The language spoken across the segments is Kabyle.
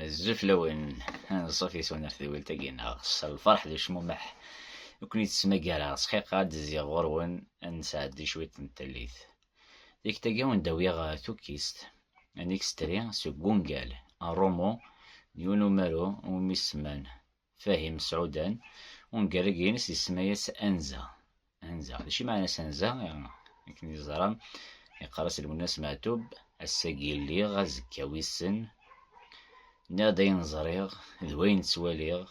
Azul fell-awen, anṣuf-is ur nertedwilt-agi neɣ s lferḥ d ucmumeḥ i ken-id-ttmagareɣ, sxiqa ad d-zziɣ ɣur-wen ad nesɛeddi cwiṭ n tallit. Tikta-agi ad wen-d-awiɣ tukkist, un extrait, seg wungal, Arrumu, n yiwen umaru iwumi semman Fahim Sɛudan, ungerrag-ines yesma-as Anza. Anza, d acu i meɛna-s Anza? Akken i ẓra, iqqar-as Lwennas Meɛtub, ass-agi lliɣ, azekka wissen. Nniɣ-d ayen ẓriɣ, d wayen ttwaliɣ,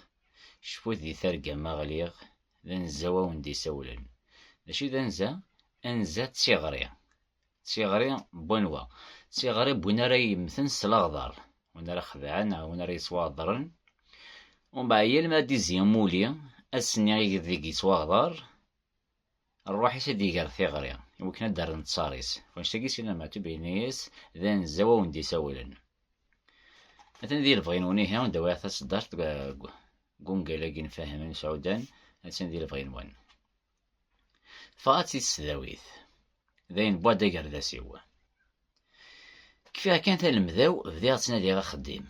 cfut di targa ma ɣliɣ, d anza-w awen-d-isawlen. D acu i d anza? Anza d tiɣri. d tiɣri n wanwa? D tiɣri n win ara yemmten s leɣder, win ara xedɛen neɣ win ara yettwaɣedren. Umbeɛd yal mi ara d-izzi amuli, ass-nni ideg yettwaɣder, rruḥ-is ad d-iger tiɣri, iwakken ad d-rren ttar-is. Wanect-agi sin Amatub yenna-as d anzaw awen d-isawlen. Atan di lebɣi-nwen ihi, anda wiɣ taseddart deg ungal-agi n Fahem Imsɛudan, attan di lebɣi-nwen. Teffeɣ-as i tesdawit. Dayen wwa-d agerdas-iw. Kfiɣ kan talemda-w, bdiɣ ttnadiɣ axeddim.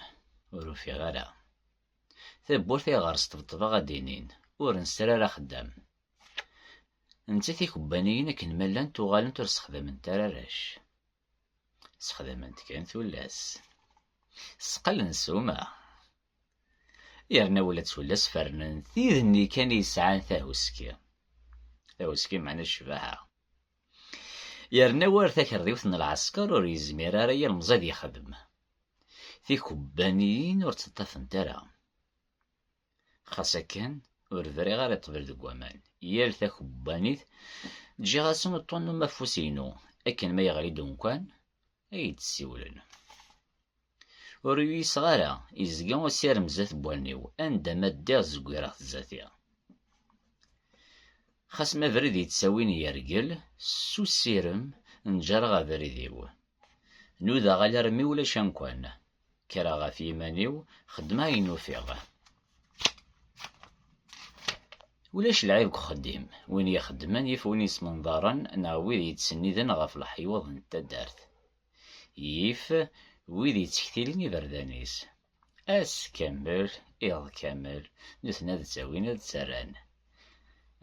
Ur ufiɣ ara. Tawwurt ayɣer sṭebṭbeɣ ad d-inin, ur nesri ara axeddam. Netta tikubbaniyin akken ma llant uɣalent ur sexdament ara arrac. Sexdament kan tullas. Sqellen ssuma. Yerna ula d tullas fernen tid-nni kan i yesɛan tahuski. Tahuski meɛna ccbaḥa. Yerna war takerdiwt n lɛesker ur yezmir ara yilemẓi ad yexdem. Tikubbaniyin ur tt-ṭṭafent ara. Xas akken, ur briɣ ara i ṭṭbel deg waman. Yal takubbanit ǧǧiɣ-asen uṭṭun n umafus-inu, akken ma yeɣli-d umkan, ay d-ssiwlen. Ur uyiseɣ ara, yezga usirem zdat n wallen-iw, anda ma ddiɣ zewwireɣ-t zdat-i. Xas ma abrid yettawin yergel, s usirem nǧareɣ abrid-iw. Nudaɣ alarmi ulac amkan, Kkreɣ ɣef yiman-iw, xeddmeɣ ayen ufiɣ. Ulac lɛib deg uxeddim, win ixeddmen yif win yesmenḍaren neɣ wid yettsenniden ɣef leḥyuḍ n taddart. Yif wid yettektilen iberdan-is. Ass kamel, iḍ kamel, nutni ad ttawin ad ttarran.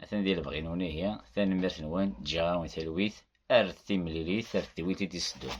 Atan di lebɣi n unihi, tanemmirt-nwen, ǧǧiɣ-awen talwit, ar timlilit, ar tedwilt i d-iseddun.